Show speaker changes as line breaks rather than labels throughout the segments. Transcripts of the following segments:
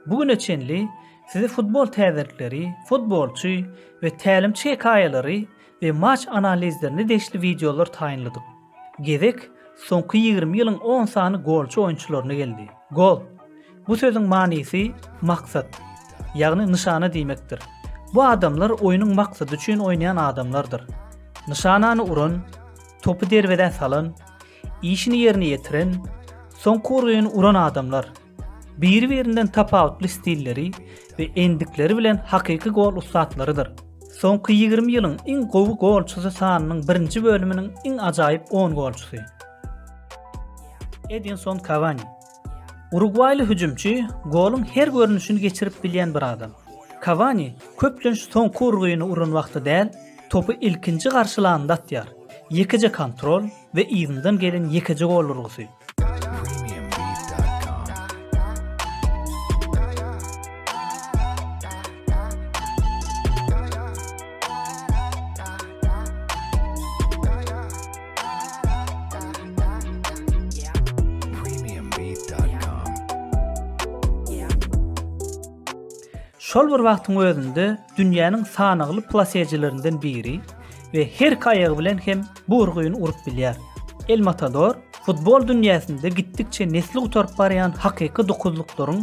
Bu güne çenli size futbol täzelikleri, futbolçy we tälimçi hekaýalary we maç analizlerine degişli wideolar taýynladyk. Gezek soňky ýigrimi ýylyň on sany golçy oýunçylaryna geldi. Gol, bu sözüň manysy maksat, ýagny nyşana diýmekdir. Bu adamlar oýnuň maksady üçin oýnaýan adamlardyr. Nyşanany uran, topy derwezä salan, Işini ýerine ýetiren, soňky urgyny uran adamlar, biri-birinden tapawutly stilleri we endikleri bilen hakyky gol ussatlarydyr. Soňky ýigrimi ýylyň iň gowy golçusy sanynyň birinji bölüminiň iň ajaýyp on golçusy. Edinson Kawani. Urugwaýly hüjümçi goluň her görnüşini geçirip bilýän bir adam. Kawani köplenç soňky urgyny uran wagty däl, topy ilkinji garşylanynda atýar. Ýekeje kontrol we yzyndan gelen ýekeje gol urgusy. Şol bir wagtyň özünde dünýäniň sanagly plaseçilerinden biri we her kaýagy bilen hem bu urgyny urup bilýär. El Matador futbol dünýäsinde gitdikçe nesli gutaryp barýan hakyky dokuzlyklaryň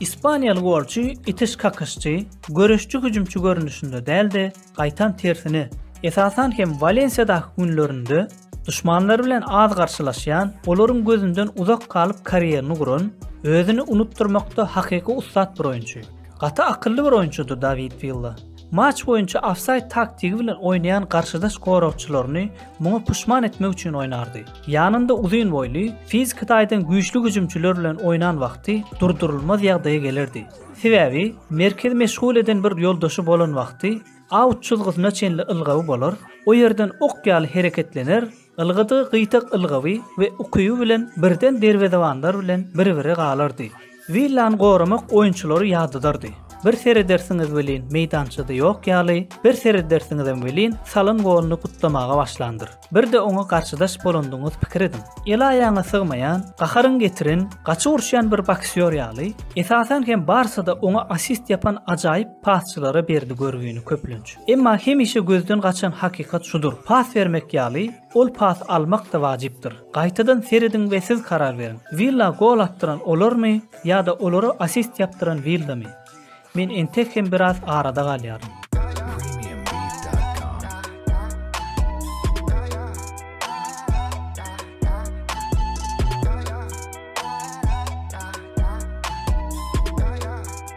Ispaniýaly golçy itiş-kakyşçy, göreşçi hüjümçi görnüşinde däl-de, gaýtam tersine, esasan hem Walensiýadaky günlerinde duşmanlary bilen az garşylaşýan, olaryň gözünden uzak galyp karýerini guran, özüni unutdyrmakda hakyky ussat bir oýunçy. Gaty akylly bir oýunçydy Dawid Willa. Matç boýunça ofsaýd taktigi bilen oýnaýan garşydaş goragçylaryny muňa puşman etmek üçin oýnardy. Ýanynda uzyn boýly, fiziki taýdan güýçli hüjümçiler bilen oýnan wagty durdurylmaz ýagdaýa gelerdi. Sebäbi, merkezi meşgul eden bir ýoldaşy bolan wagty, aut çyzgysyna çenli ylgawy bolar, o ýerden ok ýaly hereketlener, Ylgadygy gyýtak ylgawy we ukyby bilen birden derwezebanlar bilen bir-bire galardy. Willany goramak oýunçylary ýadadardy. Bir seredersiňiz welin meýdançada ýok ýaly, bir seredersiňizem welin salan goluny gutlamaga başlandyr. Bir-de oňa garşydaş bolandygyňyz pikir ediň. El-aýagyňa sygmaýan, gaharyňy getiren, gaçyp uruşýan bir boksýor ýaly, esasan hem barsada oňa assist ýapan ajaýyp pasçylara berdi görgüni köplenç. Emma hemişe gözden gaçan hakykat şudur, pas bermek ýaly, ol pas almak-da wajypdyr. Gaýtadan serediň we siz karar beriň. Willa gol atdyran olarmy ýa-da olara assist ýapdyran Willamy? Men entek hem biraz arada galýaryn.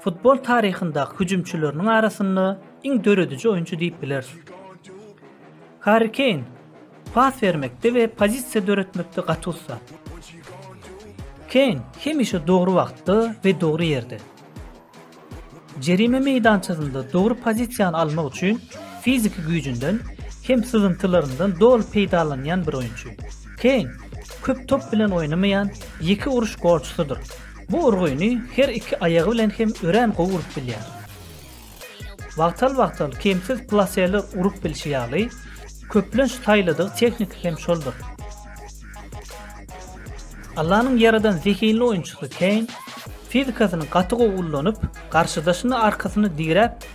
Futbol taryhyndaky hüjümçileriniň arasynda iň dörediji oýunçy diýip bileris. Harri Keýn pas bermekde we pozisiýa döretmekde gaty ussa. Keýn hemişe dogry wagtda we dogry ýerde. Jerime meýdançasynda dogry pozisiýany almak üçin fiziki güýjünden hem syzyntylaryndan doly peýdalanýan bir oýunçy. Keýn köp top bilen oýnamaýan ýeke uruş golçusydyr. Bu urgyny her iki aýagy bilen hem örän gowy urup bilýär. Wagtal-wagtal kemsiz plaseler urup bilşi ýaly, köplenç saýladygy tehnika hem şoldur. Allanyň ýaradan zehinli oýunçysy Keýn fizikasyny gaty gowy ullanyp, garşydaşyny arkasyny diräp,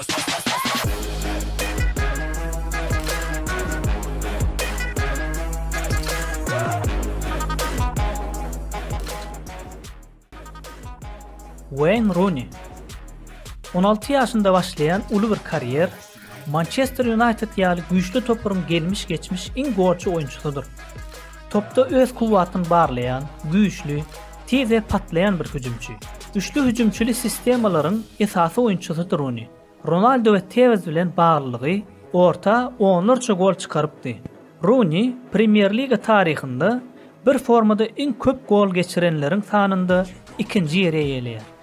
Weýn Runi. On alty ýaşynda başlaýan uly bir karýer, Mançester Ýunaýted ýaly güýçli toparyň gelmiş-geçmiş iň gorçy oýunçysydyr. Topda öz kuwwatyny barlaýan, güýçli, tiz we patlaýan bir hüjümçi. Üçli hüjümçili sistemalaryň esasy oýunçysydyr Runi. Ronaldo we Tewez bilen baglylygy orta onlarça gol çykarypdy. Runi Premýer-liga taryhynda bir formada iň köp gol geçirenleriň sanynda ikinji ýeri eýeleýär.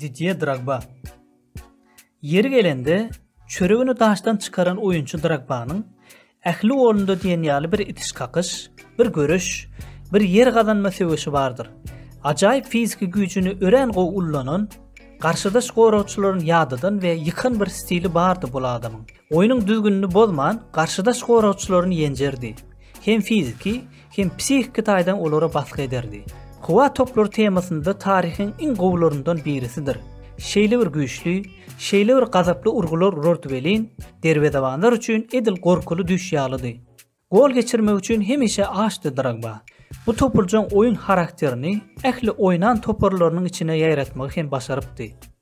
Didýe Drogba. Ýeri gelende, çöregini daşdan çykaran oýunçy Drogbanyň Ähli golunda diýen ýaly bir itiş-kakyş, bir göreş, bir ýer gazanma söweşi bardyr. Ajaýyp fiziki güýjüni örän gowy ullanan, garşydaş goragçylaryny ýadadan we ýykan bir stili bardy bul adamyň. Oýnuň düzgünini bozman, garşydaş goragçylaryny ýenjerdi. Hem fiziki, hem psihiki taýdan olara basgy ederdi. Hywa toplary temasynda taryhyň iň gowylaryndan birisidir. Şeýle bir güýçli, şeýle bir gazaply urgular urardy welin, derwezebanlar üçin edil gorkuly düýş ýalydy. Gol geçirmek üçin hemişe açdy Drogba. Bu topurjaň oýun harakterini ähli oýnan toparlarynyň içine ýaýratmagy hem başarypdy.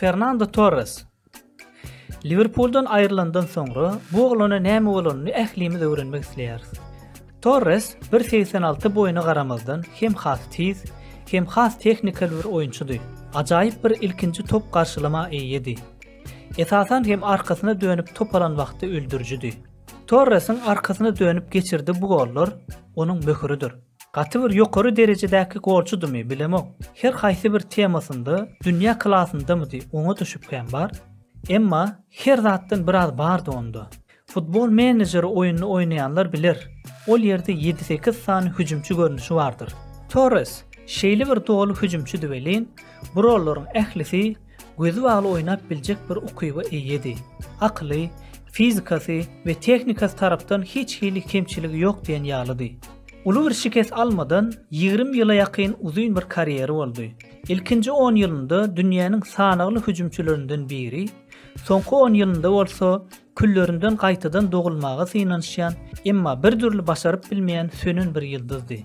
Fernando Torres Liverpooldan aýrylandan soňra bu oglana näme bolanyny ählimiz öwrenmek isleýäris. Torres 1.86 boýuna garamazdan hem has tiz, hem has tehnikal bir oýunçydy. Ajaýyp bir ilkinji top garşylama eýedi. Esasan hem arkasyna dönüp top alan wagty öldürijidi. Torresiň arkasyna dönüp geçirdi bu gollar onuň möhüridir. Gaty bir ýokary derejedäki golçudymy bilemok, her haýsy bir temasynda dünýä klasyndamydy oňa-da şübhäm bar. Emma her zatdan biraz bardy onda. Futbol menejeri oýnuny oýnaýanlar biler, ol ýerde ýedi-sekiz sany hüjümçi görnüşi bardyr. Torres şeýle bir doly hüjümçidi welin, bu rollaryň ählisi gözi bagly oýnap biljek bir ukyba eýedi. Akyly, fizikasy we tehnikasy tarapdan hiç hili kemçiligi ýok diýen ýalydy. Uly bir şikes almadan ýigrimi ýyla ýakyn uzyn bir karýery boldy. Ilkinji on ýylynda dünýäniň sanagly hüjümçilerinden biri, soňky on ýylynda bolsa küllerinden gaýtadan dogulmaga synanyşýan, emma bir dürli başaryp bilmeýän sönen bir ýyldyzdy.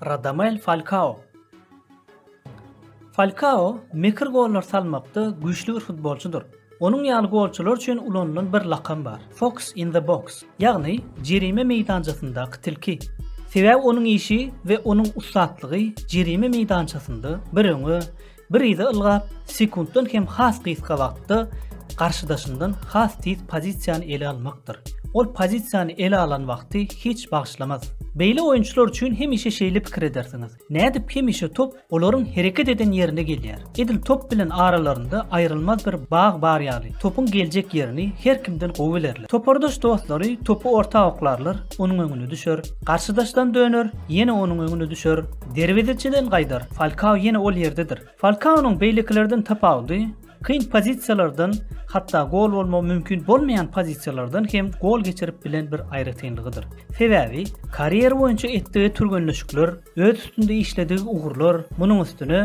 Radamel Falkao Falkao mekir gollar salmakda güýçli bir futbolçydyr. Onuň ýaly golçular üçin ulanylan bir lakam bar, Fox in the box, ýagny jerime meýdançasyndaky tilki. Sebäbi onuň işi we onuň ussatlygy jerime meýdançasynda bir öňe, Bir yza ylgap, sekuntdan hem has gysga wagtda garşydaşyndan has tiz pozisiýany ele almakdyr. Ol pozisiýany ele alan wagty hiç bagyşlamaz. Beýle oýunçylar üçin hemişe şeýle pikir edersiňiz, nädip hemişe top olaryň hereket eden ýerine gelýär? Edil top bilen aralarynda aýrylmaz bir bag bar ýaly, topuň geljek ýerini her kimden gowy bilerler. Topardaş dostlary topy orta oklarlar, onuň öňüne düşer, garşydaşdan döner, ýene onuň öňüne düşer, Derwezeçiden gaýdar, Falkao ýene ol ýerdedir. Falkaonyň beýlekilerden tapawudy, kyn pozisiýalardan, hatda gol bolmagy mümkin bolmaýan pozisiýalardan hem gol geçirip bilen bir aýratynlygydyr. Sebäbi, karýera boýunça etdigi türgenleşikler, öz üstünde işledigi ugurlar, munuň üstüne,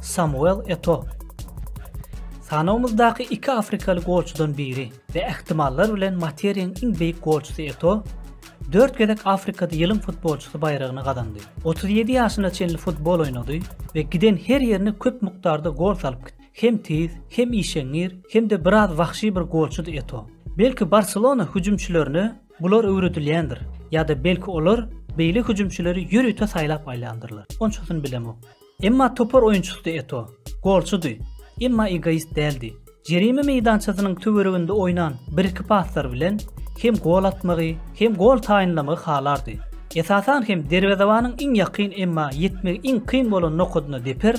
Samuel Eto. Sanawymyzdaky iki afrikaly golçudan biri we ähtimallar bilen materiýaň iň beýik golçusy Eto dört gezek Afrikada ýylyň futbolçysy baýragyny gazandy. Otuz ýedi ýaşyna çenli futbol oýnady we giden her ýerine köp mukdarda gol salyp gitdi. Hem tiz, hem işeňňir, hem-de biraz wahşy bir golçudy Eto. Belki Barselona hüjümçilerine Bular öwredilýändir, ýa-da belki olar beýle hüjümçileri ýörite saýlap alýandyrlar, onçasyny bilemok. Emma topar oýunçysydy Eto. Golçudy, emma egoist däldi. Jerime meýdançasynyň töwereginde oýnan bir-iki paslar bilen hem gol atmagy, hem gol taýynlamagy halardy. Esasan hem derwezebanyň iň ýakyn, emma ýetmegi iň kyn bolan nokadyna deper,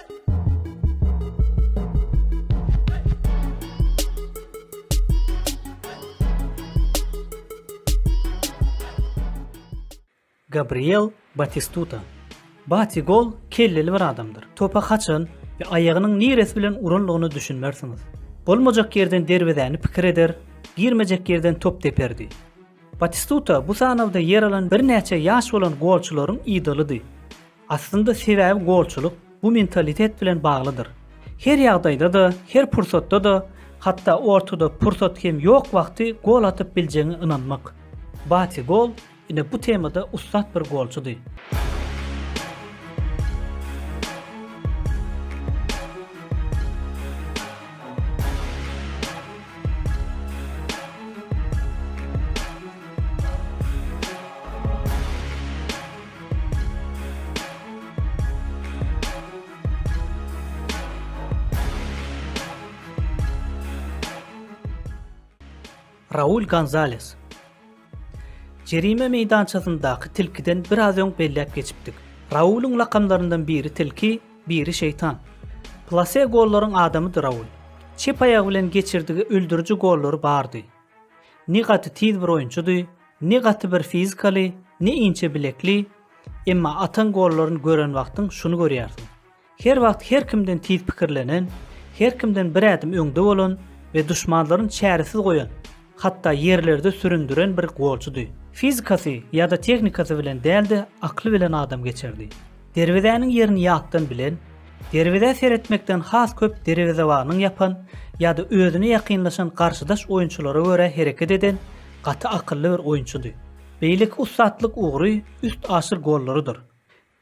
Gabriel Batistuta Bati gol kelleli bir adamdyr. Topa haçan we aýagynyň niresi bilen uranlygyna düşünmersiňiz. Bolmajak ýerden derwezäni pikir eder, girmejek ýerden top deperdi. Batistuta bu sanawda ýer alan birnäçe ýaş bolan golçularyň idolydy. Aslynda sebäbi golçulyk bu mentalitet bilen baglydyr. Her ýagdaýda-da, her pursatda-da, hatda ortada pursat hem ýok wagty gol atyp biljegiňe ynanmak. Bati Gol ine bu temada ussat bir golçudy. Raul Gonzales Jerime meýdançasyndaky tilkiden biraz öň belläp geçipdik. Raulyň lakamlaryndan biri tilki, biri şeýtan. Plase gollaryň adamydy Raul. Çep aýagy bilen geçirdigi öldüriji gollary bardy. Ne gaty tiz bir oýunçydy, ne gaty bir fizikaly, ne inçe bilekli, emma atan gollaryny gören wagtyň şuny görýärsiň. Her wagt her kimden tiz pikirlenen, her kimden bir ädim öňde bolan we duşmanlaryn çäresiz goýan, hatda ýerlerde süründiren bir golçydy. Fizikasy ýa-da tehnikasy bilen däl-de akly bilen adamgeçerdi. Derwezäniň ýerini ýatdan bilen, derwezä seretmekden has köp derwezebanyň ýapan ýa-da özüne ýakynlaşan garşydaş oýunçylara görä hereket eden gaty akylly bir oýunçydy. Beýleki ussatlyk ugry üstaşyr gollarydyr.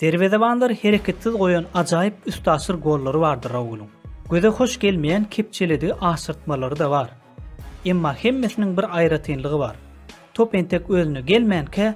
Derwezebanlary hereketsiz goýan ajaýyp üstaşyr gollary bardy Raulyň. Göze hoş gelmeýän kepjeledigi aşyrtmalary-da bar. Emma hemmesiniň bir aýratynlygy bar. Top entek özüne gelmänkä,